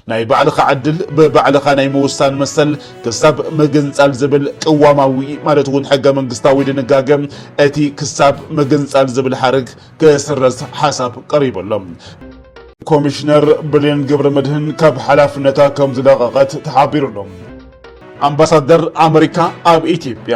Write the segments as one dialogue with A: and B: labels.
A: ናይ ባዕልኻ ዕድል ብባዕልኻ ናይ ምውሳን መሰል ክሳብ ምግንፃል ዝብል ቅዋማዊ ማለት እውን ሕገ መንግስታዊ ድንጋገ እቲ ክሳብ ምግንፃል ዝብል ሓረግ ክስረዝ ሓሳብ ቀሪቡ ኣሎ። ኮሚሽነር ብሌን ገብረ መድህን ካብ ሓላፍነታ ከም ዝለቐቐት ተሓቢሩ ኣሎ። ኣምባሳደር ኣመሪካ ኣብ ኢትዮጵያ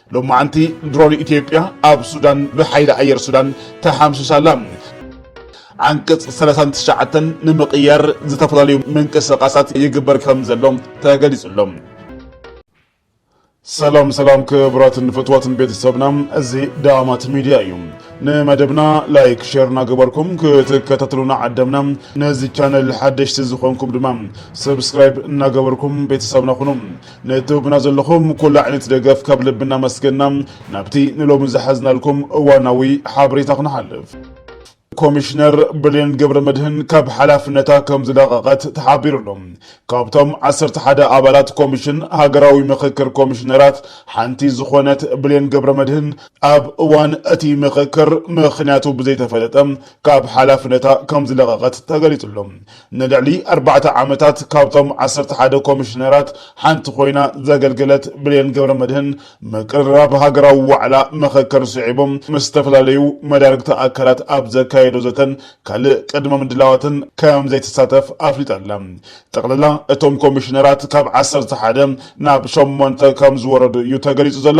A: ሎማዕንቲ ድሮን ኢትዮጵያ ኣብ ሱዳን ብሓይሊ ኣየር ሱዳን ተሓምሺሻ ኣላ። ዓንቀፅ ሰላሳን ትሽዓተን ንምቕያር ዝተፈላለዩ ምንቅስቓሳት ይግበር ከም ዘሎ ተገሊፁ ኣሎ። ሰላም ሰላም ክብራትን ፍትዋትን ቤተሰብና እዚ ዳማት ሚዲያ እዩ። ንመደብና ላይክ ሼር እናገበርኩም ክትከታተሉና ዓደምና። ነዚ ቻነል ሓደሽቲ ዝኾንኩም ድማ ሰብስክራይብ እናገበርኩም ቤተሰብና ኩኑ። ንትህቡና ዘለኹም ኩሉ ዓይነት ደገፍ ካብ ልቢ እናመስገና ናብቲ ንሎሚ ዝሓዝናልኩም እዋናዊ ሓበሬታ ክንሓልፍ። ኮሚሽነር ብሌን ገብረመድህን ካብ ሓላፍነታ ከም ዝለቐቐት ተሓቢሩ ኣሎ። ካብቶም ዓሰርተ ሓደ ኣባላት ኮሚሽን ሃገራዊ ምኽክር ኮሚሽነራት ሓንቲ ዝኾነት ብሌን ገብረመድህን ኣብ እዋን እቲ ምኽክር ምኽንያቱ ብዘይተፈለጠ ካብ ሓላፍነታ ከም ዝለቐቐት ተገሊጹ ኣሎ። ንልዕሊ ኣርባዕተ ዓመታት ካብቶም ዓሰርተ ሓደ ኮሚሽነራት ሓንቲ ኮይና ዘገልገለት ብሌን ገብረመድህን ምቅርራብ ሃገራዊ ዋዕላ መኸከር ስዒቡ ምስ ዝተፈላለዩ መዳርግቲ ኣካላት ኣብ ዘካየዶ ዘተን ካልእ ቅድመ ምድላዋትን ከምዘይትሳተፍ ኣፍሊጣ ኣላ። ጠቕልላ እቶም ኮሚሽነራት ካብ ዓሰርተ ሓደ ናብ ሸሞንተ ከምዝወረዱ እዩ ተገሊፁ ዘሎ።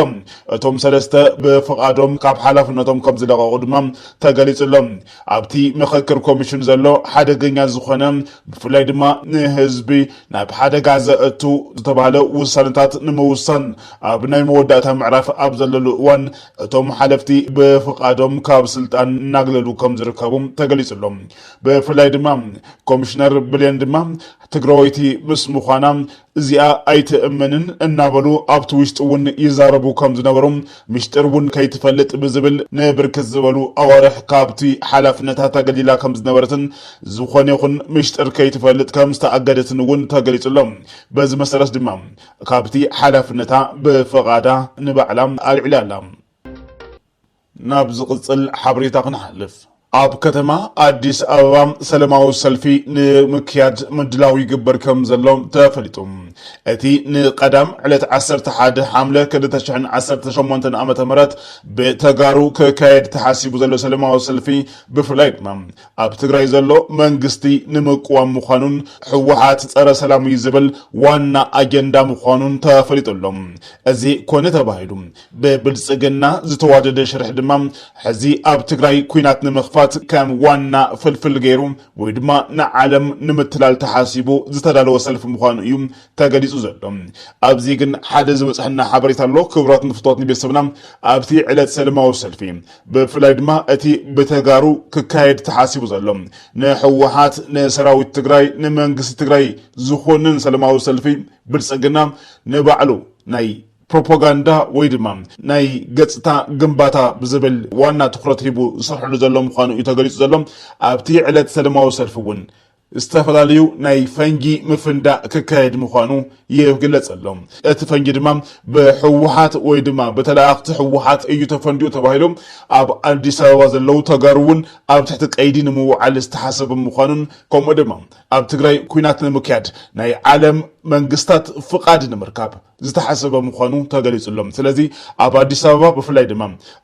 A: እቶም ሰለስተ ብፍቓዶም ካብ ሓላፍነቶም ከምዝለቐቑ ድማ ተገሊፁ ኣሎ። ኣብቲ ምኽክር ኮሚሽን ዘሎ ሓደገኛ ዝኾነ ብፍላይ ድማ ንህዝቢ ናብ ሓደጋ ዘእቱ ዝተብሃለ ውሳነታት ንምውሳን ኣብ ናይ መወዳእታ ምዕራፍ ኣብ ዘለሉ እዋን እቶም ሓለፍቲ ብፍቓዶም ካብ ስልጣን እናግለሉ ከም ዝርከቡ ተገሊፁ ኣሎ። ብፍላይ ድማ ኮሚሽነር ብሌን ድማ ትግራወይቲ ምስ ምዃና እዚኣ ኣይትእመንን እናበሉ ኣብቲ ውሽጢ እውን ይዛረቡ ከም ዝነበሩ፣ ምሽጢር እውን ከይትፈልጥ ብዝብል ንብርክት ዝበሉ ኣዋርሕ ካብቲ ሓላፍነታ ተገሊላ ከም ዝነበረትን ዝኾነ ይኹን ምሽጢር ከይትፈልጥ ከም ዝተኣገደትን እውን ተገሊፁ ኣሎ። በዚ መሰረት ድማ ካብቲ ሓላፍነታ ብፍቓዳ ንባዕላ ኣልዒላ ኣላ። ናብ ዝቕፅል ሓበሬታ ክንሓልፍ። ኣብ ከተማ ኣዲስ ኣበባ ሰለማዊ ሰልፊ ንምክያድ ምድላው ይግበር ከም ዘሎ ተፈሊጡ። እቲ ንቀዳም ዕለት ዓሰርተ ሓደ ሓምለ ክልተ ሽሕን ዓሰርተ ሸሞንተን ዓመተ ምህረት ብተጋሩ ክካየድ ተሓሲቡ ዘሎ ሰለማዊ ሰልፊ ብፍላይ ድማ ኣብ ትግራይ ዘሎ መንግስቲ ንምቅዋም ምዃኑን ህወሓት ጸረ ሰላም እዩ ዝብል ዋና ኣጀንዳ ምዃኑን ተፈሊጡ ኣሎ። እዚ ኮነ ተባሂሉ ብብልፅግና ዝተዋደደ ሽርሒ ድማ ሕዚ ኣብ ትግራይ ኩናት ንምኽፋት ከም ዋና ፍልፍል ገይሩ ወይ ድማ ንዓለም ንምትላል ተሓሲቡ ዝተዳለወ ሰልፊ ምዃኑ እዩ ተገሊፁ ዘሎ። ኣብዚ ግን ሓደ ዝበፅሐና ሓበሬታ ኣሎ። ክብራት ንፍትዋት ንቤተሰብና ኣብቲ ዕለት ሰለማዊ ሰልፊ ብፍላይ ድማ እቲ ብተጋሩ ክካየድ ተሓሲቡ ዘሎ ንሕወሓት ንሰራዊት ትግራይ ንመንግስቲ ትግራይ ዝኾንን ሰለማዊ ሰልፊ ብልፅግና ንባዕሉ ናይ ፕሮፖጋንዳ ወይ ድማ ናይ ገፅታ ግንባታ ብዝብል ዋና ትኹረት ሂቡ ዝሰርሐሉ ዘሎ ምዃኑ እዩ ተገሊፁ ዘሎ። ኣብቲ ዕለት ሰለማዊ ሰልፊ እውን ዝተፈላለዩ ናይ ፈንጂ ምፍንዳእ ክካየድ ምዃኑ ይግለፅ ኣሎ። እቲ ፈንጂ ድማ ብህወሓት ወይ ድማ ብተለኣኣኽቲ ህወሓት እዩ ተፈንዲኡ ተባሂሉ ኣብ ኣዲስ ኣበባ ዘለዉ ተጋሩ እውን ኣብ ትሕቲ ቀይዲ ንምውዓል ዝተሓሰበ ምዃኑን ከምኡ ድማ ኣብ ትግራይ ኲናት ንምክያድ ናይ ዓለም መንግስታት ፍቓድ ንምርካብ ዝተሓሰበ ምዃኑ ተገሊፁሎም። ስለዚ ኣብ ኣዲስ ኣበባ ብፍላይ ድማ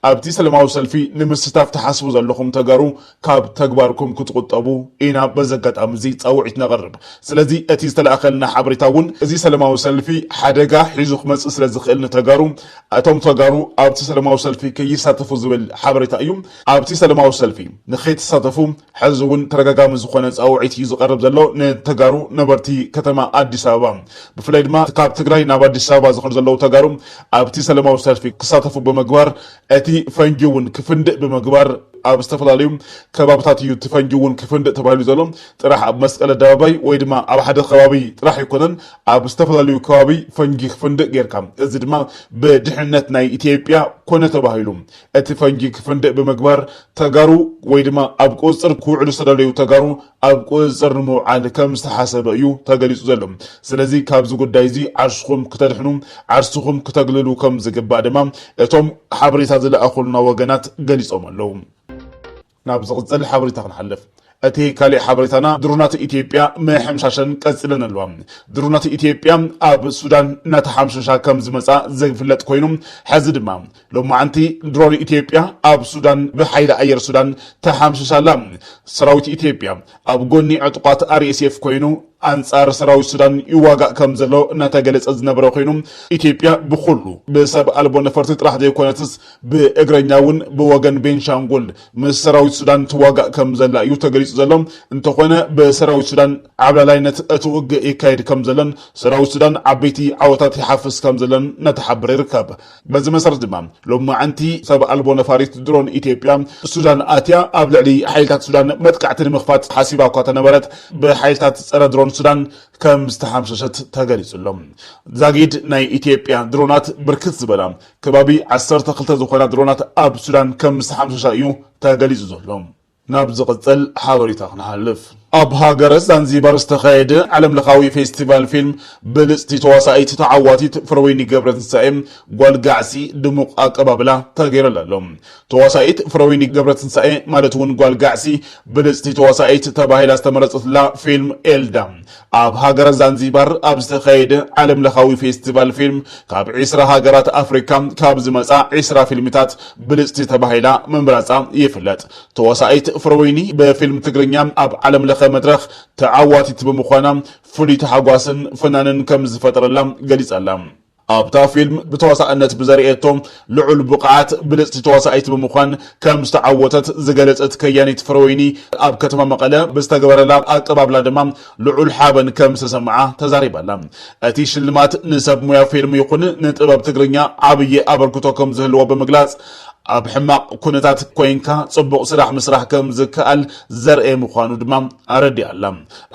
A: ኣብቲ ሰለማዊ ሰልፊ ንምስታፍ ትሓስቡ ዘለኹም ተጋሩ ካብ ተግባርኩም ክትቑጠቡ ኢና በዚ ኣጋጣሚ እዚ ፃውዒት ነቕርብ። ስለዚ እቲ ዝተልኣኸልና ሓበሬታ እውን እዚ ሰለማዊ ሰልፊ ሓደጋ ሒዙ ክመፅእ ስለዝኽእል ንተጋሩ እቶም ተጋሩ ኣብቲ ሰለማዊ ሰልፊ ከይሳተፉ ዝብል ሓበሬታ እዩ። ኣብቲ ሰለማዊ ሰልፊ ንከይትሳተፉ ሐዚ እውን ተደጋጋሚ ዝኾነ ፃውዒት እዩ ዝቐርብ ዘሎ ንተጋሩ ነበርቲ ከተማ ኣዲስ ኣበባ ብፍላይ ድማ እቲ ካብ ትግራይ ናብ ኣዲስ ኣበባ ዝኸዱ ዘለዉ ተጋሩ ኣብቲ ሰለማዊ ሰልፊ ክሳተፉ ብምግባር እቲ ፈንጂ እውን ክፍንድእ ብምግባር ኣብ ዝተፈላለዩ ከባብታት እዩ እቲ ፈንጂ እውን ክፍንድእ ተባሂሉ ዘሎ ጥራሕ ኣብ መስቀል ኣደባባይ ወይ ድማ ኣብ ሓደ ከባቢ ጥራሕ ኣይኮነን ኣብ ዝተፈላለዩ ከባቢ ፈንጂ ክፍንድእ ጌርካ እዚ ድማ ብድሕንነት ናይ ኢትዮጵያ ኮነ ተባሂሉ እቲ ፈንጂ ክፍንድእ ብምግባር ተጋሩ ወይ ድማ ኣብ ቁፅፅር ክውዕሉ ዝተደለዩ ተጋሩ ኣብ ቁፅፅር ንምውዓል ከም ዝተሓሰበ እዩ ተገሊፁ ዘሎ። ስለዚ ካብዚ ጉዳይ እዚ ዓርሽኹም ክተድሕኑ ዓርስኹም ክተግልሉ ከም ዝግባእ ድማ እቶም ሓበሬታ ዝለኣኹልና ወገናት ገሊፆም ኣለው። ናብ ዝቕጽል ሓበሬታ ክንሓልፍ። እቲ ካሊእ ሓበሬታና ድሮናት ኢትዮጵያ ምሕምሻሸን ቀጺለን ኣለዋ። ድሮናት ኢትዮጵያ ኣብ ሱዳን እናተሓምሸሻ ከምዝመጻ ዝፍለጥ ኮይኑ ሕዚ ድማ ሎማዕንቲ ድሮን ኢትዮጵያ ኣብ ሱዳን ብሓይሊ ኣየር ሱዳን ተሓምሽሻ ኣላ። ሰራዊት ኢትዮጵያ ኣብ ጎኒ ዕጡቓት RSF ኮይኑ ኣንጻር ሰራዊት ሱዳን ይዋጋእ ከምዘሎ እናተገለጸ ዝነበረ ኮይኑ፣ ኢትዮጵያ ብኹሉ ብሰብ ኣልቦ ነፈርቲ ጥራሕ ዘይኮነትስ ብእግረኛ እውን ብወገን ቤንሻንጉል ምስ ሰራዊት ሱዳን ትዋጋእ ከምዘላ እዩ ተገሊጹ ዘሎ። እንተኾነ ብሰራዊት ሱዳን ዓብላላይነት እቲ ውግእ ይካየድ ከምዘሎን ሰራዊት ሱዳን ዓበይቲ ዓወታት ይሓፍስ ከምዘሎን እናተሓበረ ይርከብ። በዚ መሰረት ድማ ሎማዕንቲ ሰብ ኣልቦ ነፋሪት ድሮን ኢትዮጵያ ሱዳን ኣትያ ኣብ ልዕሊ ሓይልታት ሱዳን መጥቃዕቲ ንምኽፋት ሓሲባ እኳ ተነበረት ብሓይልታት ፀረ ድሮን ሱዳን ከም ዝተሓምሸሸት ተገሊፁ ኣሎ። ዛጊድ ናይ ኢትዮጵያ ድሮናት ብርክት ዝበላ ከባቢ ዓሰርተ ክልተ ዝኾና ድሮናት ኣብ ሱዳን ከም ዝተሓምሸሻ እዩ ተገሊፁ ዘሎ። ናብ ዝቕጽል ሓበሬታ ክንሓልፍ። ኣብ ሃገረ ዛንዚባር ዝተኻየደ ዓለም ለኻዊ ፌስቲቫል ፊልም ብልጽቲ ተዋሳኢት ተዓዋቲት ፍረወይኒ ገብረትንሳኤ፣ ጓል ጋዕሲ፣ ድሙቕ ኣቀባብላ ተገይረላ ኣሎ። ተዋሳኢት ፍረወይኒ ገብረትንሳኤ ማለት እውን ጓል ጋዕሲ ብልጽቲ ተዋሳኢት ተባሂላ ዝተመረጸትላ ፊልም ኤልዳ ኣብ ሃገረ ዛንዚባር ኣብ ዝተኻየደ ዓለም ለኻዊ ፌስቲቫል ፊልም ካብ ዕስራ ሃገራት ኣፍሪካ ካብ ዝመፃ ዕስራ ፊልምታት ብልፅቲ ተባሂላ ምምራፃ ይፍለጥ። ተዋሳኢት ፍረወይኒ ብፊልም ትግርኛ ኣብ ዓለም ለኸ መድረኽ ተዓዋቲት ብምዃና ፍሉይ ታሕጓስን ፍናንን ከምዝፈጠረላ ገሊፃ'ላ። ኣብታ ፊልም ብተዋሳእነት ብዘርእየቶ ልዑል ብቕዓት ብልጽቲ ተዋሳኢት ብምዃን ከም ዝተዓወተት ዝገለጸት ከያኒት ፍረወይኒ፣ ኣብ ከተማ መቐለ ብዝተገበረላ ኣቀባብላ ድማ ልዑል ሓበን ከም ዝተሰምዓ ተዛሪባ'ላ። እቲ ሽልማት ንሰብ ሙያ ፊልም ይኹን ንጥበብ ትግርኛ ዓብዪ ኣበርክቶ ከም ዝህልዎ ብምግላጽ፣ ኣብ ሕማቕ ኩነታት ኮይንካ ጽቡቕ ስራሕ ምስራሕ ከም ዝከኣል ዘርእይ ምዃኑ ድማ ኣረዲኣ'ላ።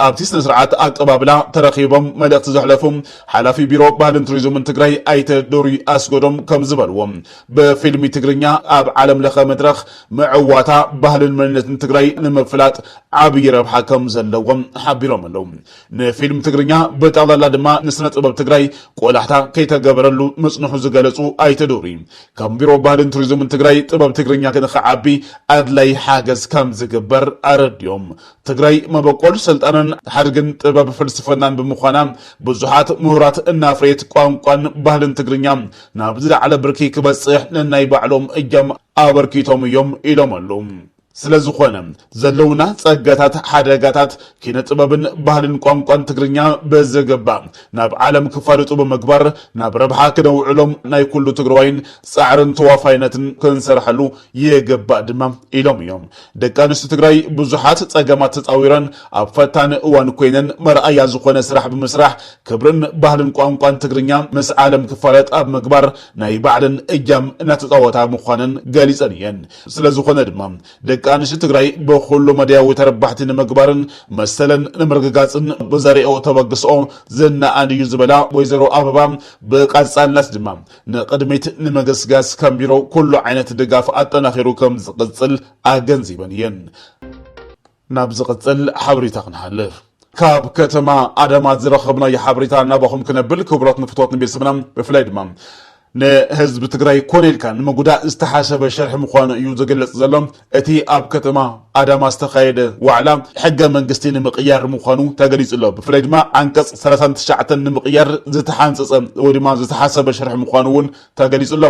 A: ኣብቲ ስነ-ስርዓት ኣቀባብላ ተረኺቦም መልእኽቲ ዘሕለፉ ሓላፊ ቢሮ ባህልን ቱሪዝምን ትግራይ ኣይተ ዶሪ ኣስጎዶም ከምዝበልዎ ብፊልሚ ትግርኛ ኣብ ዓለም ለኸ መድረኽ ምዕዋታ ባህልን መንነትን ትግራይ ንምፍላጥ ዓብዪ ረብሓ ከምዘለዎም ሓቢሮም ኣለው። ንፊልም ትግርኛ ብጠቕላላ ድማ ንስነ ጥበብ ትግራይ ቆላሕታ ከይተገበረሉ ምፅንሑ ዝገለፁ ኣይተ ዶሪ ከም ቢሮ ባህልን ቱሪዝምን ትግራይ ጥበብ ትግርኛ ንክዓቢ ኣድላይ ሓገዝ ከምዝግበር ኣረዲኦም። ትግራይ መበቆል ስልጣነን ሓድግን ጥበብ ፍልስፍናን ብምዃና ብዙሓት ምሁራት እናፍረየት ቋንቋን ባህልን ትግርኛ ናብ ዝለዓለ ብርኪ ክበፅሕ ነናይ ባዕሎም እጃም ኣበርኪቶም እዮም ኢሎም ኣሉ። ስለዝኾነ ዘለውና ፀጋታት፣ ሓደጋታት ኪነ ጥበብን ባህልን ቋንቋን ትግርኛ ብዝግባእ ናብ ዓለም ክፋልጡ ብምግባር ናብ ረብሓ ክነውዕሎም ናይ ኩሉ ትግራዋይን ፃዕርን ተዋፋይነትን ክንሰርሐሉ ይግባእ ድማ ኢሎም እዮም። ደቂ ኣንስትዮ ትግራይ ብዙሓት ፀገማት ተፃዊረን ኣብ ፈታኒ እዋን ኮይነን መርኣያ ዝኾነ ስራሕ ብምስራሕ ክብርን ባህልን ቋንቋን ትግርኛ ምስ ዓለም ክፋለጥ ኣብ ምግባር ናይ ባዕለን እጃም እናተፃወታ ምዃነን ገሊፀን እየን። ስለዝኾነ ድማ ደቂ ኣንስትዮ ትግራይ ብኹሉ መዳያዊ ተረባሕቲ ንምግባርን መሰለን ንምርግጋፅን ብዘርእየኦ ተበግስኦ ዝነኣድ እዩ ዝበላ ወይዘሮ ኣበባ ብቀፃልነት ድማ ንቕድሚት ንምግስጋስ ከም ቢሮ ኩሉ ዓይነት ድጋፍ ኣጠናኺሩ ከም ዝቕፅል ኣገንዚበን እየን። ናብ ዝቕፅል ሓበሬታ ክንሓልፍ ካብ ከተማ ኣዳማ ዝረኸብናዮ ሓበሬታ ናባኹም ክነብል ክቡራት ንፍትወት ንቤተሰብና ብፍላይ ድማ ንህዝቢ ትግራይ ኮነ ኢልካ ንምጉዳእ ዝተሓሰበ ሸርሒ ምዃኑ እዩ ዝግለጽ ዘሎ። እቲ ኣብ ከተማ ኣዳማ ዝተኻየደ ዋዕላ ሕገ መንግስቲ ንምቕያር ምዃኑ ተገሊፁ'ሎ። ብፍላይ ድማ ዓንቀፅ ሰላሳን ትሽዓተን ንምቕያር ዝተሓንፀፀ ወይ ድማ ዝተሓሰበ ሽርሒ ምዃኑ እውን ተገሊፁ'ሎ።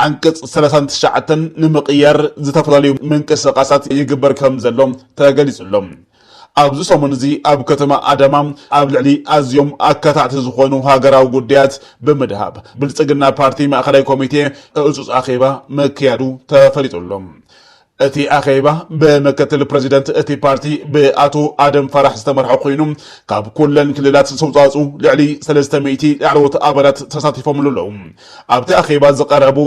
A: ዓንቀፅ ሰላሳን ትሽዓተን ንምቕያር ዝተፈላለዩ ምንቅስቓሳት ይግበር ከምዘሎ ተገሊፁ'ሎ። ኣብዚ ሰሙን እዚ ኣብ ከተማ ኣዳማ ኣብ ልዕሊ ኣዝዮም ኣካታዕቲ ዝኾኑ ሃገራዊ ጉዳያት ብምድሃብ ብልፅግና ፓርቲ ማእኸላይ ኮሚቴ ህፁፅ ኣኼባ ምክያዱ ተፈሊጡ ኣሎ። እቲ ኣኼባ ብምክትል ፕረዚደንት እቲ ፓርቲ ብኣቶ ኣደም ፋራሕ ዝተመርሐ ኮይኑ ካብ ኩለን ክልላት ዝተውፃእፅኡ ልዕሊ ሰለስተ ሚእቲ ላዕለዎት ኣባላት ተሳቲፎምሉ ኣለው። ኣብቲ ኣኼባ ዝቐረቡ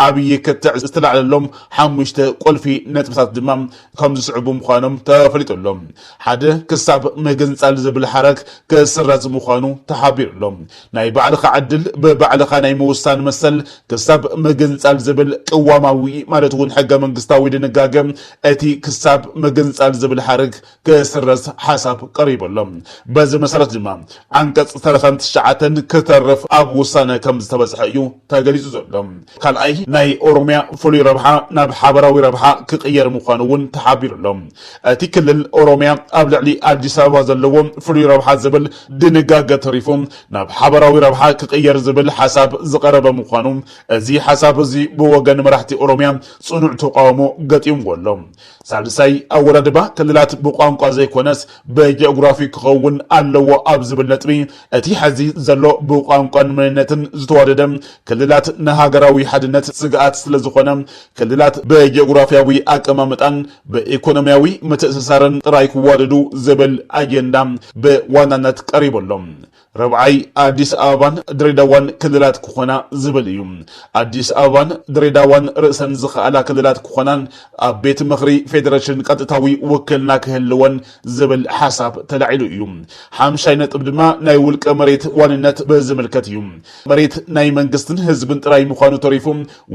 A: ዓብዪ ክትዕ ዝተላዕለሎም ሓሙሽተ ቁልፊ ነጥብታት ድማ ከም ዝስዕቡ ምዃኖም ተፈሊጡ ኣሎ። ሓደ፣ ክሳብ ምግንፃል ዝብል ሓረግ ክስረዝ ምዃኑ ተሓቢሩ ኣሎ። ናይ ባዕልኻ ዕድል ብባዕልኻ ናይ ምውሳን መሰል ክሳብ ምግንፃል ዝብል ቅዋማዊ ማለት እውን ሕገ መንግስታዊ ድንጋገ እቲ ክሳብ ምግንፃል ዝብል ሓረግ ክስረዝ ሓሳብ ቀሪቡ ኣሎ። በዚ መሰረት ድማ ዓንቀፅ ዝተረፈ ትሽዓተን ክተርፍ ኣብ ውሳነ ከምዝተበፅሐ እዩ ተገሊፁ ዘሎ። ካልኣይ ናይ ኦሮሚያ ፍሉይ ረብሓ ናብ ሓበራዊ ረብሓ ክቕየር ምዃኑ እውን ተሓቢሩ ኣሎ። እቲ ክልል ኦሮሚያ ኣብ ልዕሊ ኣዲስ ኣበባ ዘለዎ ፍሉይ ረብሓ ዝብል ድንጋገ ተሪፉ ናብ ሓበራዊ ረብሓ ክቕየር ዝብል ሓሳብ ዝቐረበ ምዃኑ እዚ ሓሳብ እዚ ብወገን መራሕቲ ኦሮሚያ ፅኑዕ ተቓውሞ ገጢምዎ ኣሎ። ሳልሳይ፣ ኣወዳድባ ክልላት ብቋንቋ ዘይኮነስ ብጂኦግራፊ ክኸውን ኣለዎ ኣብ ዝብል ነጥቢ፣ እቲ ሐዚ ዘሎ ብቋንቋን መንነትን ዝተዋደደ ክልላት ንሃገራዊ ሓድነት ስግኣት ስለዝኾነ ክልላት ብጂኦግራፊያዊ ኣቀማምጣን ብኢኮኖሚያዊ ምትእስሳርን ጥራይ ክዋደዱ ዝብል ኣጀንዳ ብዋናነት ቀሪቡ ኣሎ። ርብዓይ ኣዲስ ኣበባን ድሬዳዋን ክልላት ክኾና ዝብል እዩ። ኣዲስ ኣበባን ድሬዳዋን ርእሰን ዝኸኣላ ክልላት ክኾናን ኣብ ቤት ምኽሪ ፌዴሬሽን ቀጥታዊ ውክልና ክህልወን ዝብል ሓሳብ ተላዒሉ እዩ። ሓምሻይ ነጥብ ድማ ናይ ውልቀ መሬት ዋንነት ብዝምልከት እዩ። መሬት ናይ መንግስትን ህዝብን ጥራይ ምዃኑ ተሪፉ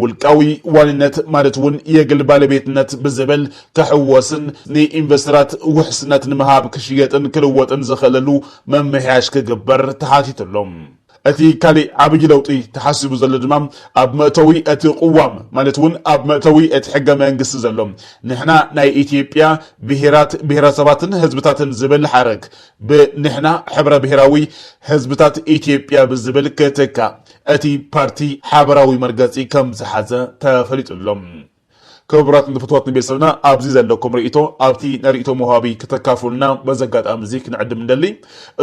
A: ውልቃዊ ዋንነት ማለት እውን የግል ባለቤትነት ብዝብል ክሕወስን ንኢንቨስተራት ውሕስነት ንምሃብ ክሽየጥን ክልወጥን ዝኽእለሉ ምምሕያሽ ክግበር ተሓቲቱ ኣሎ። እቲ ካሊእ ዓብዪ ለውጢ ተሓሲቡ ዘሎ ድማ ኣብ መእተዊ እቲ ቅዋም ማለት እውን ኣብ መእተዊ እቲ ሕገ መንግስቲ ዘሎ ንሕና ናይ ኢትዮጵያ ብሄራት፣ ብሄረሰባትን ህዝብታትን ዝብል ሓረግ ብንሕና ሕብረ ብሄራዊ ህዝብታት ኢትዮጵያ ብዝብል ክትካእ እቲ ፓርቲ ሓበራዊ መርገፂ ከምዝሓዘ ተፈሊጡ ኣሎ። ክቡራትን ፍትዋትን ቤተሰብና ኣብዚ ዘለኩም ሪኢቶ ኣብቲ ናይ ሪኢቶ መውሃቢ ክተካፍሉና በዚ ኣጋጣሚ እዚ ክንዕድም ንደሊ።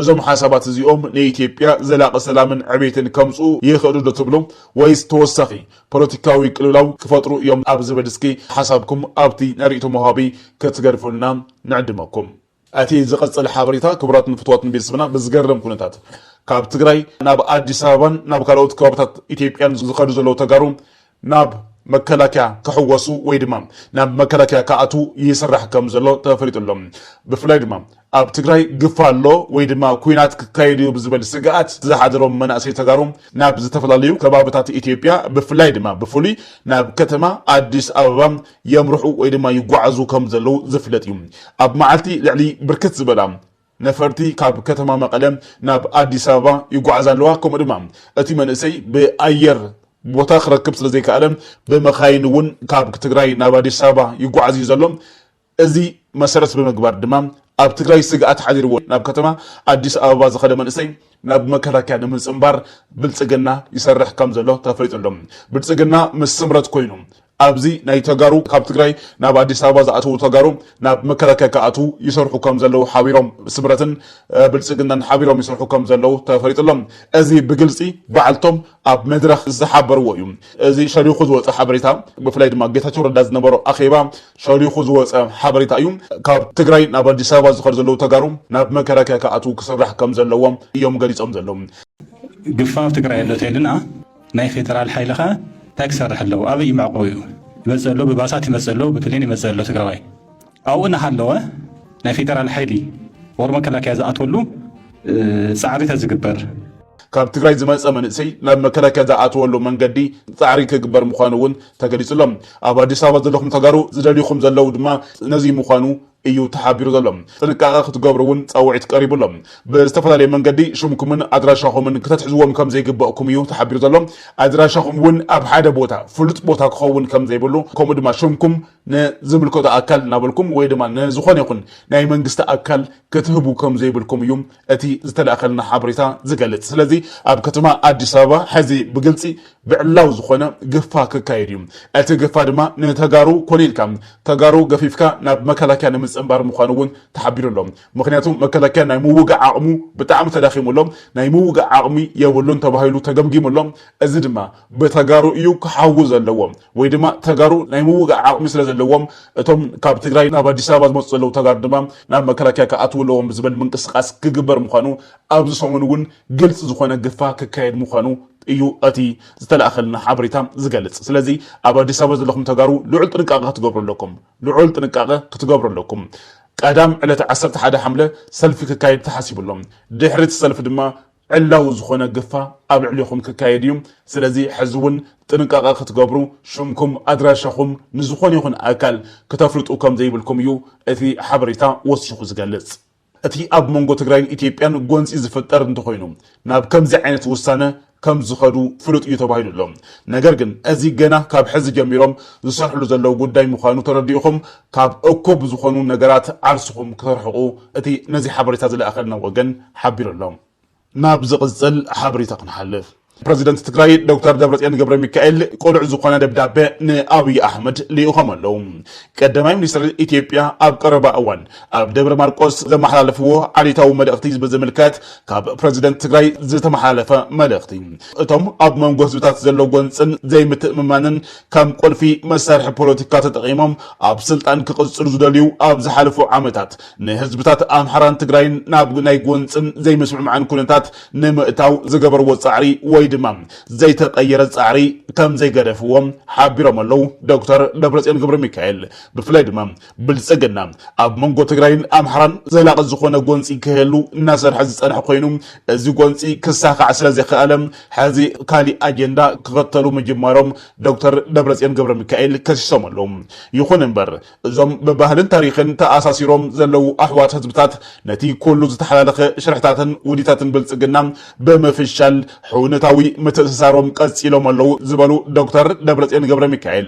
A: እዞም ሓሳባት እዚኦም ንኢትዮጵያ ዘላቂ ሰላምን ዕቤትን ከምጽኡ ይኽእሉ ዶ ትብሉ ወይስ ተወሳኺ ፖለቲካዊ ቅልውላው ክፈጥሩ እዮም ኣብ ዝብል እስኪ ሓሳብኩም ኣብቲ ናይ ሪኢቶ መውሃቢ ክትገድፉልና ንዕድመኩም። ኣቲ ዝቅጽል ሓበሬታ ክቡራት ንፍትዋት ንቤተሰብና ብዝገርም ኩነታት ካብ ትግራይ ናብ ኣዲስ ኣበባን ናብ ካልኦት ከባብታት ኢትዮጵያን ዝከዱ ዘለዉ ተጋሩ ናብ መከላከያ ክሕወሱ ወይ ድማ ናብ መከላከያ ክኣትዉ ይስራሕ ከም ዘሎ ተፈሊጡ ኣሎ ብፍላይ ድማ ኣብ ትግራይ ግፋ ኣሎ ወይ ድማ ኩናት ክካየድ እዩ ብዝበል ስግኣት ዝሓደሮም መናእሰይ ተጋሩ ናብ ዝተፈላለዩ ከባብታት ኢትዮጵያ ብፍላይ ድማ ብፍሉይ ናብ ከተማ ኣዲስ ኣበባ የምርሑ ወይ ድማ ይጓዓዙ ከም ዘለዉ ዝፍለጥ እዩ። ኣብ መዓልቲ ልዕሊ ብርክት ዝበላ ነፈርቲ ካብ ከተማ መቐለ ናብ ኣዲስ ኣበባ ይጓዓዛ ኣለዋ። ከምኡ ድማ እቲ መንእሰይ ብኣየር ቦታ ክረክብ ስለ ዘይከኣለ ብመካይን እውን ካብ ትግራይ ናብ ኣዲስ ኣበባ ይጓዓዝ እዩ ዘሎ። እዚ መሰረት ብምግባር ድማ ኣብ ትግራይ ስግኣት ሓዲርዎ ናብ ከተማ ኣዲስ ኣበባ ዝኸደ መንእሰይ፣ ናብ መከላከያ ንምፅምባር ብልፅግና ይሰርሕ ከምዘሎ ተፈሊጡ ኣሎ። ብልፅግና ምስ ስምረት ኮይኑ ኣብዚ ናይ ተጋሩ ካብ ትግራይ ናብ ኣዲስ ኣበባ ዝኣተዉ ተጋሩ ናብ መከላከያ ክኣትዉ ይሰርሑ ከም ዘለዉ ሓቢሮም ስምረትን ብልፅግናን ሓቢሮም ይሰርሑ ከም ዘለዉ ተፈሊጡ ኣሎ። እዚ ብግልፂ ባዕልቶም ኣብ መድረኽ ዝሓበርዎ እዩ። እዚ ሸሪኹ ዝወፀ ሓበሬታ ብፍላይ ድማ ጌታቸው ረዳ ዝነበሮ ኣኼባ ሸሊኹ ዝወፀ ሓበሬታ እዩ። ካብ ትግራይ ናብ ኣዲስ ኣበባ ዝኸዱ ዘለዉ ተጋሩ ናብ መከላከያ ክኣትዉ ክስራሕ ከምዘለዎም እዮም ገሊፆም ዘለዉ። ግፋ
B: ኣብ ትግራይ ኣሎ ተይልና ናይ ፌደራል ሓይሊ ከ ታይ ክሰርሕ ኣለዎ ኣበይ እዩ መዕቆቢኡ ይመፅእ ኣሎ ብባሳት ይመፅእ ኣሎ ብፕሌን ይመፅእ ኣሎ ትግራዋይ ኣብኡ እናሃለወ ናይ ፌደራል ሓይሊ ወር መከላከያ ዝኣትወሉ ፃዕሪ ተዝግበር። ካብ ትግራይ
A: ዝመፀ መንእሰይ ናብ መከላከያ ዝኣትወሉ መንገዲ ፃዕሪ ክግበር ምዃኑ እውን ተገሊፁ ኣሎ። ኣብ ኣዲስ ኣበባ ዘለኹም ተጋሩ ዝደልዩኹም ዘለው ድማ ነዙይ ምዃኑ እዩ ተሓቢሩ ዘሎ። ጥንቃቐ ክትገብሩ እውን ፃውዒት ቀሪቡ ኣሎ። ብዝተፈላለየ መንገዲ ሽምኩምን ኣድራሻኹምን ክተትሕዝዎም ከምዘይግበእኩም እዩ ተሓቢሩ ዘሎ። ኣድራሻኹም እውን ኣብ ሓደ ቦታ ፍሉጥ ቦታ ክኸውን ከምዘይብሉ ከምኡ ድማ ሽምኩም ንዝምልከቶ ኣካል እናበልኩም ወይ ድማ ንዝኾነ ይኹን ናይ መንግስቲ ኣካል ክትህቡ ከምዘይብልኩም እዩ እቲ ዝተላእከልና ሓበሬታ ዝገልፅ። ስለዚ ኣብ ከተማ ኣዲስ ኣበባ ሕዚ ብግልፂ ብዕላዊ ዝኾነ ግፋ ክካየድ እዩ። እቲ ግፋ ድማ ንተጋሩ ኮኒንካ ተጋሩ ገፊፍካ ናብ መከላከያ ንምፅንባር ምዃኑ እውን ተሓቢሩ ኣሎ። ምኽንያቱ መከላከያ ናይ ምውጋእ ዓቕሙ ብጣዕሚ ተዳኺሙ ኣሎ። ናይ ምውጋእ ዓቕሚ የብሉን ተባሂሉ ተገምጊሙ ኣሎ። እዚ ድማ። ብተጋሩ እዩ ክሓዊ ዘለዎ ወይ ድማ ተጋሩ ናይ ምውጋእ ዓቕሚ ስለ ዘለዎም እቶም ካብ ትግራይ ናብ ኣዲስ ኣበባ ዝመፁ ዘለዉ ተጋሩ ድማ ናብ መከላከያ ክኣትዉ ኣለዎም ዝብል ምንቅስቓስ ክግበር ምዃኑ ኣብዚ ሰሙን እውን ግልፂ ዝኾነ ግፋ ክካየድ ምዃኑ እዩ እቲ ዝተላእኸልና ሓበሬታ ዝገልፅ። ስለዚ ኣብ ኣዲስ ኣበባ ዘለኹም ተጋሩ ልዑል ጥንቃቐ ክትገብሩ ኣለኩም። ልዑል ጥንቃቐ ክትገብሩ ኣለኩም። ቀዳም ዕለት ዓሰርተ ሓደ ሓምለ ሰልፊ ክካየድ ተሓሲቡ ኣሎ። ድሕሪ እቲ ሰልፊ ድማ ዕላዊ ዝኾነ ግፋ ኣብ ልዕሌኹም ክካየድ እዩ። ስለዚ ሕዚ እውን ጥንቃቐ ክትገብሩ፣ ሽምኩም፣ ኣድራሻኹም ንዝኾነ ይኹን ኣካል ክተፍልጡ ከም ዘይብልኩም እዩ እቲ ሓበሬታ ወሲኹ ዝገልጽ። እቲ ኣብ መንጎ ትግራይን ኢትዮጵያን ጎንጺ ዝፍጠር እንተኾይኑ ናብ ከምዚ ዓይነት ውሳነ ከም ዝኸዱ ፍሉጥ እዩ ተባሂሉ ኣሎ። ነገር ግን እዚ ገና ካብ ሕዚ ጀሚሮም ዝሰርሕሉ ዘለዉ ጉዳይ ምዃኑ ተረዲእኹም ካብ እኩብ ዝኾኑ ነገራት ዓርስኹም ክትርሕቑ እቲ ነዚ ሓበሬታ ዝለኣኸልና ወገን ሓቢሩ ኣሎ። ናብ ዝቕጽል ሓበሬታ ክንሓልፍ፣ ፕረዚደንት ትግራይ ዶክተር ደብረጽዮን ገብረሚካኤል ቅሉዕ ዝኾነ ደብዳበ ንኣብይ ኣሕመድ ልኢኾም ኣለዉ። ቀዳማይ ሚኒስትር ኢትዮጵያ ኣብ ቀረባ እዋን ኣብ ደብረ ማርቆስ ዘመሓላለፍዎ ዓሌታዊ መልእኽቲ ብዝምልከት ካብ ፕረዚደንት ትግራይ ዝተመሓላለፈ መልእኽቲ እቶም ኣብ መንጎ ህዝብታት ዘሎ ጎንጽን ዘይምትእምማንን ከም ቁልፊ መሳርሒ ፖለቲካ ተጠቒሞም ኣብ ስልጣን ክቕፅሉ ዝደልዩ ኣብ ዝሓለፉ ዓመታት ንህዝብታት ኣምሓራን ትግራይን ናብ ናይ ጎንፅን ዘይምስምዕማዕን ኩነታት ንምእታው ዝገበርዎ ፃዕሪ ወይ ድማ ዘይተቐየረ ፃዕሪ ከምዘይገደፍዎ ሓቢሮም ኣለው ዶክተር ደብረፅዮን ገብረሚካኤል ብፍላይ ድማ ብልፅግና ኣብ መንጎ ትግራይን ኣምሓራን ዘላቒ ዝኾነ ጎንፂ ክህሉ እናሰርሐ ዝፀንሐ ኮይኑ እዚ ጎንፂ ክሳኻዕ ስለዘይከኣለ ሕዚ ካሊእ ኣጀንዳ ክኸተሉ ምጅማሮም ዶክተር ደብረፅዮን ገብረሚካኤል ከሲሶም ኣለዉ። ይኹን እምበር እዞም ብባህልን ታሪኽን ተኣሳሲሮም ዘለዉ ኣሕዋት ህዝብታት ነቲ ኩሉ ዝተሓላለኸ ሽርሕታትን ውዲታትን ብልፅግና ብምፍሻል ሕውነታዊ ምትእስሳሮም ቀፂሎም ኣለዉ ዝበሉ ዶክተር ደብረፅዮን ገብረሚካኤል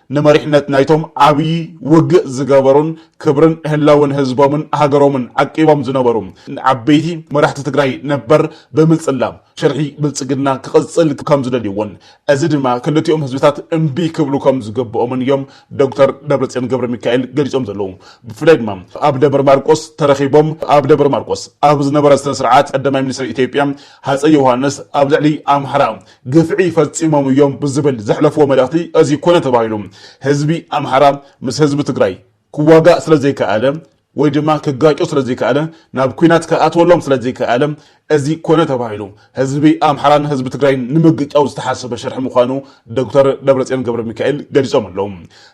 A: ንመሪሕነት ናይቶም ዓብዪ ውግእ ዝገበሩን ክብርን ህላወን ህዝቦምን ሃገሮምን ዓቂቦም ዝነበሩ ዓበይቲ መራሕቲ ትግራይ ነበር ብምፅላም ሽርሒ ብልፅግና ክቕፅል ከምዝደልይዎን እዚ ድማ ክልቲኦም ህዝብታት እምቢ ክብሉ ከምዝግብኦምን እዮም ዶክተር ደብረፅዮን ገብረሚካኤል ገሊፆም ዘለዉ ብፍላይ ድማ ኣብ ደብረ ማርቆስ ተረኺቦም ኣብ ደብረ ማርቆስ ኣብ ዝነበረ ስነ ስርዓት ቀዳማይ ሚኒስትር ኢትዮጵያ ሃፀይ ዮሃንስ ኣብ ልዕሊ ኣምሓራ ግፍዒ ፈፂሞም እዮም ብዝብል ዘሕለፍዎ መልእኽቲ እዚ ኮነ ተባሂሉ ህዝቢ ኣምሓራ ምስ ህዝቢ ትግራይ ክዋጋእ ስለዘይከኣለ ወይ ድማ ክጋጮ ስለዘይከኣለ ናብ ኩናት ክኣትወሎም ስለዘይከኣለ እዚ ኮነ ተባሂሉ ህዝቢ ኣምሓራን ህዝቢ ትግራይን ንምግጫው ዝተሓሰበ ሽርሒ ምዃኑ ዶክተር ደብረፅዮን ገብረ ሚካኤል ገሊፆም ኣለዉ።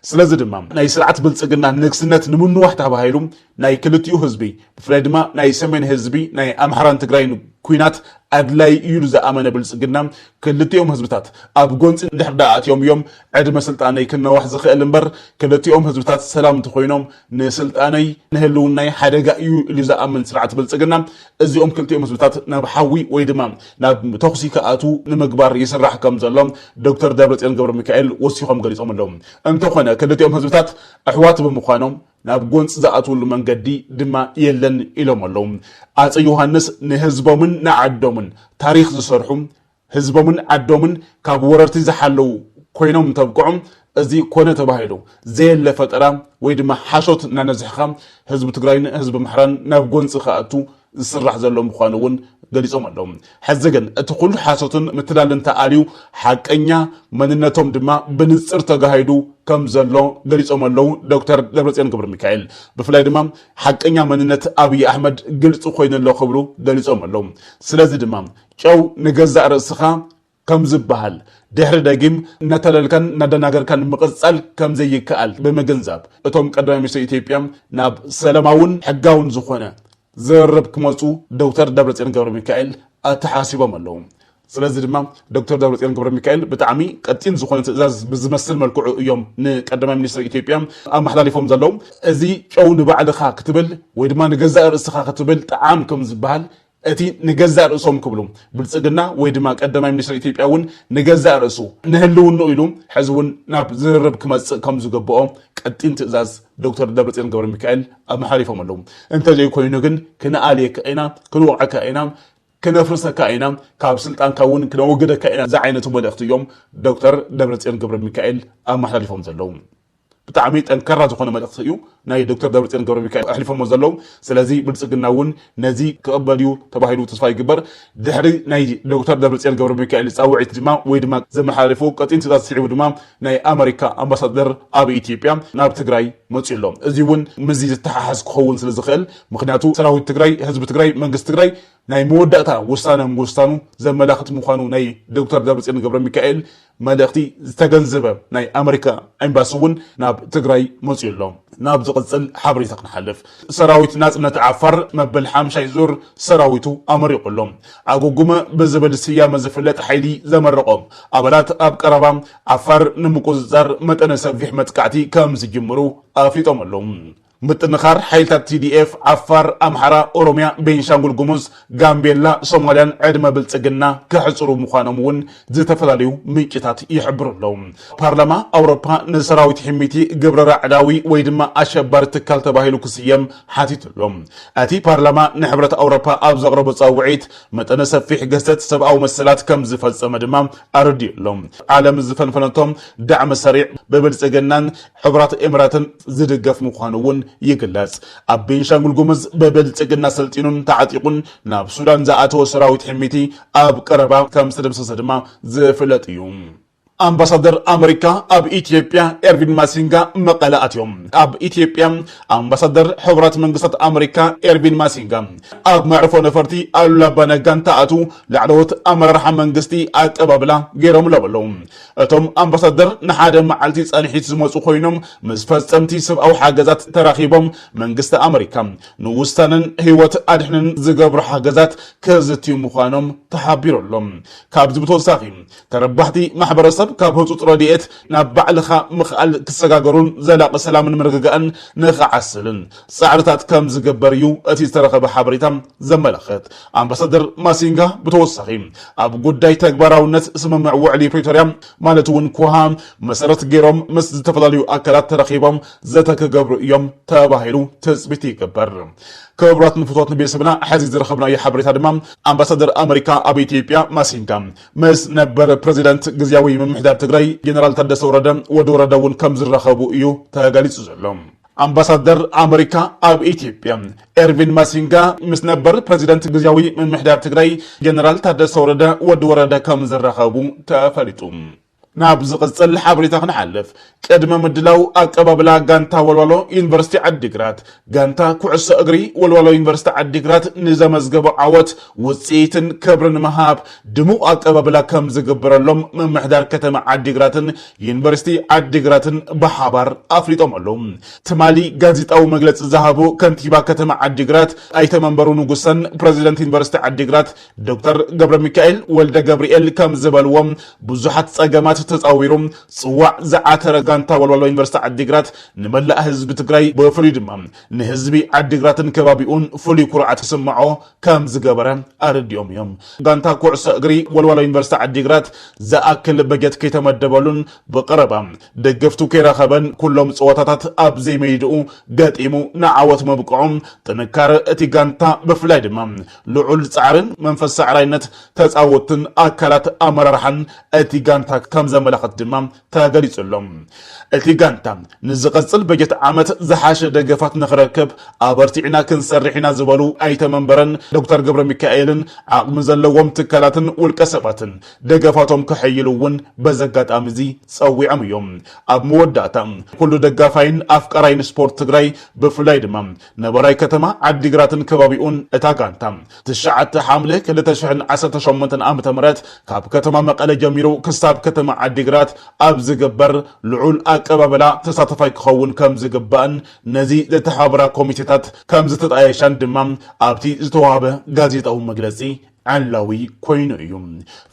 A: ስለዚ ድማ ናይ ስርዓት ብልፅግና ንግስነት ንምንዋሕ ተባሂሉ ናይ ክልቲኡ ህዝቢ ብፍላይ ድማ ናይ ሰሜን ህዝቢ ናይ ኣምሓራን ትግራይን ኲናት ኣድላዪ እዩ ኢሉ ዝኣመነ ብልፅግና ክልቲኦም ህዝብታት ኣብ ጎንፂ እንድሕር ድኣ ኣትዮም እዮም ዕድመ ስልጣነይ ክናዋሕ ዝኽእል እምበር ክልቲኦም ህዝብታት ሰላም እንተኾይኖም ንስልጣነይ ንህልውናይ ሓደጋ እዩ ኢሉ ዝኣምን ስርዓት ብልፅግና እዚኦም ክልቲኦም ህዝብታት ናብ ሓዊ ወይ ድማ ናብ ተኹሲ ክኣትዉ ንምግባር ይስራሕ ከም ዘሎ ዶክተር ደብረፅዮን ገብረሚካኤል ወሲኾም ገሊፆም ኣለዉ እንተኾነ ክልቲኦም ህዝብታት ኣሕዋት ብምዃኖም ናብ ጎንፂ ዝኣትውሉ መንገዲ ድማ የለን ኢሎም ኣለው። ኣፀይ ዮሃንስ ንህዝቦምን ንዓዶምን ታሪኽ ዝሰርሑ፣ ህዝቦምን ዓዶምን ካብ ወረርቲ ዝሓለው ኮይኖም እንተብቅዑ እዚ ኮነ ተባሂሉ ዘየለ ፈጠራ ወይ ድማ ሓሾት እናነዝሕኻ ህዝቢ ትግራይን ህዝቢ ኣምሓራን ናብ ጎንፂ ክኣቱ ዝስራሕ ዘሎ ምዃኑ እውን ገሊጾም ኣለዉ። ሕዚ ግን እቲ ኩሉ ሓሶትን ምትላልን ተኣልዩ ሓቀኛ መንነቶም ድማ ብንጽር ተጋሂዱ ከም ዘሎ ገሊጾም ኣለዉ ዶክተር ደብረጽዮን ገብረ ሚካኤል። ብፍላይ ድማ ሓቀኛ መንነት ኣብዪ ኣሕመድ ግልጺ ኮይኑ ኣሎ ክብሉ ገሊጾም ኣለዉ። ስለዚ ድማ ጨው ንገዛእ ርእስኻ ከም ዝበሃል ድሕሪ ደጊም እናታለልካን እናደናገርካን ምቕፃል ከም ዘይከኣል ብምግንዛብ እቶም ቀዳማይ ሚኒስትር ኢትዮጵያ ናብ ሰላማውን ሕጋውን ዝኾነ ዝርርብ ክመፁ ዶክተር ደብረፅዮን ገብረሚካኤል ኣተሓሳሲቦም ኣለዉ። ስለዚ ድማ ዶክተር ደብረፅዮን ገብረሚካኤል ብጣዕሚ ቀጢን ዝኾነ ትእዛዝ ብዝመስል መልክዑ እዮም ንቀዳማይ ሚኒስትር ኢትዮጵያ ኣመሓላሊፎም ዘለዉ። እዚ ጨው ንባዕልኻ ክትብል ወይ ድማ ንገዛእ ርእስኻ ክትብል ጠዓም ከም ዝበሃል እቲ ንገዛእ ርእሶም ክብሉ ብልፅግና ወይ ድማ ቀዳማይ ሚኒስትር ኢትዮጵያ እውን ንገዛእ ርእሱ ንህልውንኡ ኢሉ ሕዚ እውን ናብ ዝርርብ ክመፅእ ከም ዝግብኦ ቀጢን ትእዛዝ ዶክተር ደብረፅዮን ገብረ ሚካኤል ኣመሓሪፎም ኣለዉ። እንተዘይኮይኑ ግን ክንኣልየካ ኢና፣ ክንወቕዐካ ኢና፣ ክነፍርሰካ ኢና፣ ካብ ስልጣንካ እውን ክነወግደካ ኢና ዝዓይነቱ መልእኽቲ እዮም ዶክተር ደብረፅዮን ገብረ ሚካኤል ኣመሓላሊፎም ዘለዉ። ብጣዕሚ ጠንካራ ዝኾነ መልእኽቲ እዩ ናይ ዶክተር ደብረፅዮን ገብረሚካኤል ኣሕሊፎሞ ዘለው ስለዚ ብልፅግና እውን ነዚ ክቕበል እዩ ተባሂሉ ተስፋ ይግበር ድሕሪ ናይ ዶክተር ደብረፅዮን ገብረሚካኤል ፃውዒት ድማ ወይ ድማ ዘመሓላለፎ ቀጢን ትእዛዝ ስዒቡ ድማ ናይ ኣመሪካ ኣምባሳደር ኣብ ኢትዮጵያ ናብ ትግራይ መፅኡ ኣሎ እዚ እውን ምስዚ ዝተሓሓዝ ክኸውን ስለዝኽእል ምኽንያቱ ሰራዊት ትግራይ ህዝቢ ትግራይ መንግስቲ ትግራይ ናይ መወዳእታ ውሳነ ምውሳኑ ዘመላኽት ምዃኑ ናይ ዶክተር ደብረፅዮን ገብረሚካኤል መልእኽቲ ዝተገንዘበ ናይ ኣመሪካ ኤምባሲ እውን ናብ ትግራይ መፂኡ ኣሎ። ናብ ዝቕፅል ሓበሬታ ክንሓልፍ፣ ሰራዊት ናፅነት ዓፋር መበል ሓምሻይ ዙር ሰራዊቱ ኣመሪቑ ኣሎ። ዓጉጉመ ብዝብል ስያመ ዝፍለጥ ሓይሊ ዘመረቖም ኣባላት ኣብ ቀረባ ዓፋር ንምቁፅፃር መጠነ ሰፊሕ መጥቃዕቲ ከምዝጅምሩ ኣፍሊጦም ኣለው። ምጥንኻር ሓይልታት TDF ዓፋር፣ ኣምሓራ፣ ኦሮሚያ፣ ቤንሻንጉል ጉሙዝ፣ ጋምቤላ፣ ሶማሊያን ዕድመ ብልፅግና ከሕፅሩ ምዃኖም እውን ዝተፈላለዩ ምንጭታት ይሕብሩ ኣለዉ። ፓርላማ ኣውሮፓ ንሰራዊት ሒሚቲ ግብረ ራዕዳዊ ወይ ድማ ኣሸባሪ ትካል ተባሂሉ ክስየም ሓቲቱ ኣሎ። እቲ ፓርላማ ንሕብረት ኣውሮፓ ኣብ ዘቕረቦ ፃውዒት መጠነ ሰፊሕ ግህሰት ሰብኣዊ መሰላት ከም ዝፈፀመ ድማ ኣረዲኡ ኣሎ። ዓለም ዝፈንፈነቶ ዳዕመ ሰሪዕ ብብልፅግናን ሕቡራት ኤምራትን ዝድገፍ ምዃኑ እውን ይግለጽ። ኣብ ቤንሻንጉል ጉሙዝ ብብልጽግና ሰልጢኑን ተዓጢቑን ናብ ሱዳን ዝኣተወ ሰራዊት ሕሚቲ ኣብ ቀረባ ከም ዝተደምሰሰ ድማ ዝፍለጥ እዩ። ኣምባሳደር ኣመሪካ ኣብ ኢትዮጵያ ኤርቪን ማሲንጋ መቐለ ኣትዮም። ኣብ ኢትዮጵያ ኣምባሳደር ሕቡራት መንግስታት ኣመሪካ ኤርቪን ማሲንጋ ኣብ መዕርፎ ነፈርቲ ኣሉላ ኣባ ነጋ እንትኣትዉ ላዕለዎት ኣመራርሓ መንግስቲ ኣቀባብላ ገይሮምሎም ኣለዉ። እቶም ኣምባሳደር ንሓደ መዓልቲ ፃንሒት ዝመፁ ኮይኖም ምስ ፈፀምቲ ሰብኣዊ ሓገዛት ተራኺቦም መንግስቲ ኣመሪካ ንውሳነን ህይወት ኣድሕንን ዝገብሮ ሓገዛት ከዝትዩ ምዃኖም ተሓቢሩ ኣሎ። ካብዚ ብተወሳኺ ተረባሕቲ ማሕበረሰብ ካብ ህፁፅ ረድኤት ናብ ባዕልኻ ምኽኣል ክሰጋገሩን ዘላቒ ሰላምን ምርግጋእን ንኽዓስልን ፃዕርታት ከምዝግበር እዩ እቲ ዝተረኸበ ሓበሬታ ዘመላኽት። ኣምባሳደር ማሲንጋ ብተወሳኺ ኣብ ጉዳይ ተግባራውነት ስምምዕ ውዕሊ ፕሪቶርያ ማለት እውን ኩሃ መሰረት ገይሮም ምስ ዝተፈላለዩ ኣካላት ተረኺቦም ዘተ ክገብሩ እዮም ተባሂሉ ትፅቢት ይግበር። ክቡራት ንፍቶት ንቤተሰብና ሕዚ ዝረኸብናዮ ሓበሬታ ድማ ኣምባሳደር ኣመሪካ ኣብ ኢትዮጵያ ማሲንጋ ምስ ነበር ፕሬዚዳንት ግዜያዊ ምምሕዳር ትግራይ ጀነራል ታደሰ ወረደ ወዲ ወረደ እውን ከም ዝራኸቡ እዩ ተገሊፁ ዘሎ። ኣምባሳደር ኣመሪካ ኣብ ኢትዮጵያ ኤርቪን ማሲንጋ ምስ ነበር ፕረዚደንት ግዜያዊ ምምሕዳር ትግራይ ጀነራል ታደሰ ወረደ ወዲ ወረደ ከም ዝራኸቡ ተፈሊጡ። ናብ ዝቕጽል ሓበሬታ ክንሓልፍ ቅድመ ምድላው ኣቀባብላ ጋንታ ወልዋሎ ዩኒቨርሲቲ ዓዲግራት ጋንታ ኩዕሶ እግሪ ወልዋሎ ዩኒቨርሲቲ ዓዲግራት ንዘመዝገበ ዓወት ውፅኢትን ክብርን መሃብ ድሙቕ ኣቀባብላ ከም ዝግበረሎም ምምሕዳር ከተማ ዓዲግራትን ዩኒቨርሲቲ ዓዲግራትን ብሓባር ኣፍሊጦም ኣለዉ። ትማሊ ጋዜጣዊ መግለፂ ዝሃቡ ከንቲባ ከተማ ዓዲግራት ኣይተ መንበሩ ንጉሰን ፕረዚደንት ዩኒቨርሲቲ ዓዲግራት ዶክተር ገብረሚካኤል ወልደገብርኤል ከምዝበልዎ ብዙሓት ፀገማት ተፃዊሩ ፅዋዕ ዝዓተረ ጋንታ ወልዋሎ ዩኒቨርሲቲ ዓዲግራት ንመላእ ህዝቢ ትግራይ ብፍሉይ ድማ ንህዝቢ ዓዲግራትን ከባቢኡን ፍሉይ ኩርዓት ክስምዖ ከም ዝገበረ ኣረዲኦም እዮም። ጋንታ ኩዕሶ እግሪ ወልዋሎ ዩኒቨርሲቲ ዓዲግራት ዝኣክል በጀት ከይተመደበሉን ብቐረባ ደገፍቱ ከይረኸበን ኩሎም ፀወታታት ኣብ ዘይመይድኡ ገጢሙ ንዓወት ምብቅዑ ጥንካረ እቲ ጋንታ ብፍላይ ድማ ልዑል ፃዕርን መንፈስ ሳዕራይነት ተፃወትን ኣካላት ኣመራርሓን እቲ ጋንታ ከም ዘመላኽት ድማ ተገሊፁ'ሎ። እቲ ጋንታ ንዝቐፅል በጀት ዓመት ዝሓሸ ደገፋት ንኽረክብ ኣበርቲዕና ክንሰርሕ ኢና ዝበሉ ኣይተ መንበረን፣ ዶክተር ገብረሚካኤልን ዓቕሚ ዘለዎም ትካላትን ውልቀ ሰባትን ደገፋቶም ከሐይሉ እውን በዚ ኣጋጣሚ እዚ ፀዊዖም እዮም። ኣብ መወዳእታ ኩሉ ደጋፋይን ኣፍቃራይን ስፖርት ትግራይ ብፍላይ ድማ ነባራይ ከተማ ዓዲግራትን ከባቢኡን እታ ጋንታ ትሽዓተ ሓምለ ክልተ ሽሕን ዓሰርተ ሸሞንተን ዓመተ ምህረት ካብ ከተማ መቐለ ጀሚሩ ክሳብ ከተማ ዓዲግራት ኣብ ዝግበር ልዑል ኣቀባበላ ተሳተፋይ ክኸውን ከምዝግባእን ነዚ ዘተሓባብራ ኮሚቴታት ከምዝተጣየሻን ድማ ኣብቲ ዝተውሃበ ጋዜጣዊ መግለፂ ዕላዊ ኮይኑ እዩ።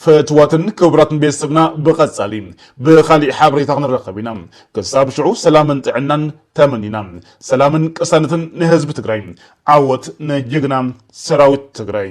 A: ፍትዋትን ክብራትን ቤተሰብና ብቀጻሊ ብካሊእ ሓበሬታ ክንራከብ ኢና ክሳብ ሽዑ ሰላምን ጥዕናን ተመኒና ሰላምን ቅሳነትን ንህዝቢ ትግራይ ዓወት ንጅግና ሰራዊት ትግራይ።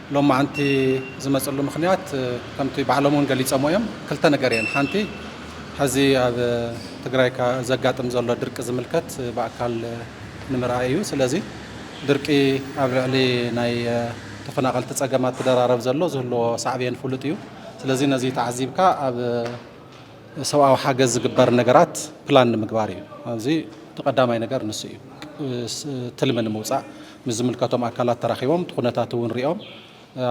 C: ሎማዕንቲ ዝመፅሉ ምኽንያት ከምቲ ባዕሎም እውን ገሊፀሞ እዮም። ክልተ ነገር እየን። ሓንቲ ሐዚ ኣብ ትግራይ ዘጋጥም ዘሎ ድርቂ ዝምልከት ብኣካል ንምርኣይ እዩ። ስለዚ ድርቂ ኣብ ልዕሊ ናይ ተፈናቐልቲ ፀገማት ክደራረብ ዘሎ ዝህልዎ ሳዕቤን ፍሉጥ እዩ። ስለዚ ነዚ ተዓዚብካ ኣብ ሰብኣዊ ሓገዝ ዝግበር ነገራት ፕላን ንምግባር እዩ። ኣብዚ እቲ ቀዳማይ ነገር ንሱ እዩ። ትልሚ ንምውፃእ ምስ ዝምልከቶም ኣካላት ተራኺቦም እቲ ኩነታት እውን ሪኦም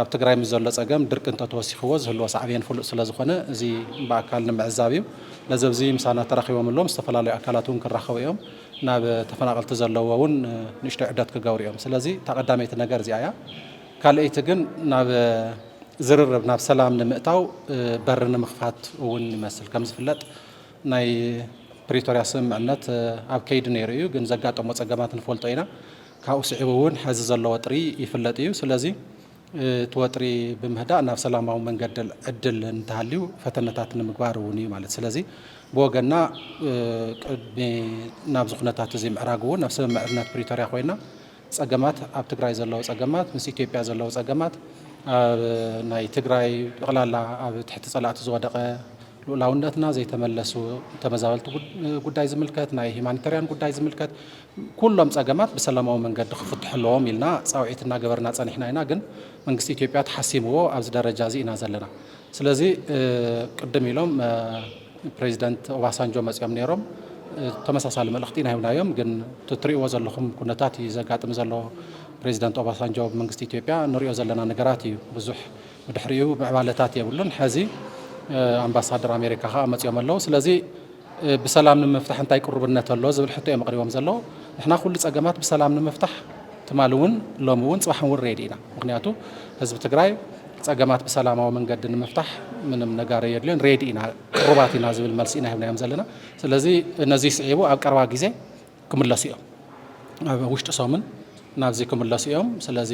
C: ኣብ ትግራይ ምስ ዘሎ ፀገም ድርቂ እንተተወሲኽዎ ዝህልዎ ሳዕቤን ፍሉጥ ስለዝኾነ እዚ ብኣካል ንምዕዛብ እዩ። ነዚ ኣብዚ ምሳና ተራኺቦም ኣለዉ ምስ ዝተፈላለዩ ኣካላት እውን ክራኸቡ እዮም። ናብ ተፈናቐልቲ ዘለዎ እውን ንእሽተይ ዑደት ክገብሩ እዮም። ስለዚ እታ ቀዳመይቲ ነገር እዚኣ እያ። ካልኣይቲ ግን ናብ ዝርርብ ናብ ሰላም ንምእታው በሪ ንምኽፋት እውን ይመስል። ከምዝፍለጥ ናይ ፕሪቶርያ ስምምዕነት ኣብ ከይዲ ነይሩ እዩ፣ ግን ዘጋጠሞ ፀገማት ንፈልጦ ኢና። ካብኡ ስዒቡ እውን ሐዚ ዘሎ ወጥሪ ይፍለጥ እዩ። ስለዚ እቲ ወጥሪ ብምህዳእ ናብ ሰላማዊ መንገዲ ዕድል እንተሃልዩ ፈተነታት ንምግባር እውን እዩ ማለት ስለዚ ብወገንና ቅድሚ ናብዚ ኩነታት እዚ ምዕራግ እውን ኣብ ስምምዕነት ፕሪቶርያ ኮይና ፀገማት ኣብ ትግራይ ዘለዉ ፀገማት ምስ ኢትዮጵያ ዘለዉ ፀገማት ኣብ ናይ ትግራይ ጠቕላላ ኣብ ትሕቲ ፀላእቲ ዝወደቐ ልኡላውነትና ዘይተመለሱ ተመዛበልቲ ጉዳይ ዝምልከት ናይ ሂማኒተርያን ጉዳይ ዝምልከት ኩሎም ፀገማት ብሰላማዊ መንገዲ ክፍትሑ ኣለዎም ኢልና ፃውዒት እናገበርና ፀኒሕና ኢና ግን መንግስቲ ኢትዮጵያ ተሓሲምዎ ኣብዚ ደረጃ እዚ ኢና ዘለና ስለዚ ቅድም ኢሎም ፕሬዚደንት ኦባሳንጆ መፅኦም ነይሮም ተመሳሳሊ መልእኽቲ ኢና ሂብናዮም። ግን እቲ ትሪእዎ ዘለኹም ኩነታት እዩ ዘጋጥም ዘሎ ፕሬዚደንት ኦባሳንጆ መንግስቲ ኢትዮጵያ ንሪኦ ዘለና ነገራት እዩ። ብዙሕ ብድሕሪኡ ምዕባለታት የብሉን። ሕዚ ኣምባሳደር ኣሜሪካ ከዓ መፅኦም ኣለዉ። ስለዚ ብሰላም ንምፍታሕ እንታይ ቅሩብነት ኣሎ ዝብል ሕቶ እዮም ኣቕሪቦም ዘለዉ። ንሕና ኩሉ ፀገማት ብሰላም ንምፍታሕ ትማሊ እውን ሎሚ እውን ፅባሕ እውን ሬዲ ኢና። ምኽንያቱ ህዝቢ ትግራይ ፀገማት ብሰላማዊ መንገዲ ንምፍታሕ ምንም ነጋር ኣየድልዮን ሬዲ ኢና ቅሩባት ኢና ዝብል መልሲ ኢና ሂብናዮም ዘለና። ስለዚ ነዙይ ስዒቡ ኣብ ቀረባ ግዜ ክምለሱ እዮም ኣብ ውሽጢ ሰሙን ናብዚ ክምለሱ እዮም ስለዚ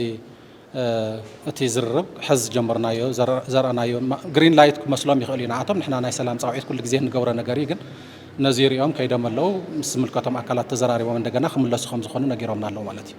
C: እቲ ዝርርብ ሕዚ ዝጀመርናዮ ዘርኣናዮ ግሪን ላይት ክመስሎም ይኽእል እዩ ንኣቶም ንሕና ናይ ሰላም ፃውዒት ኩሉ ግዜ ንገብሮ ነገር እዩ ግን ነዚ ሪኦም ከይዶም ኣለው ምስ ዝምልከቶም ኣካላት ተዘራሪቦም እንደገና ክምለሱ ከም ዝኾኑ ነጊሮምና ኣለው ማለት እዩ።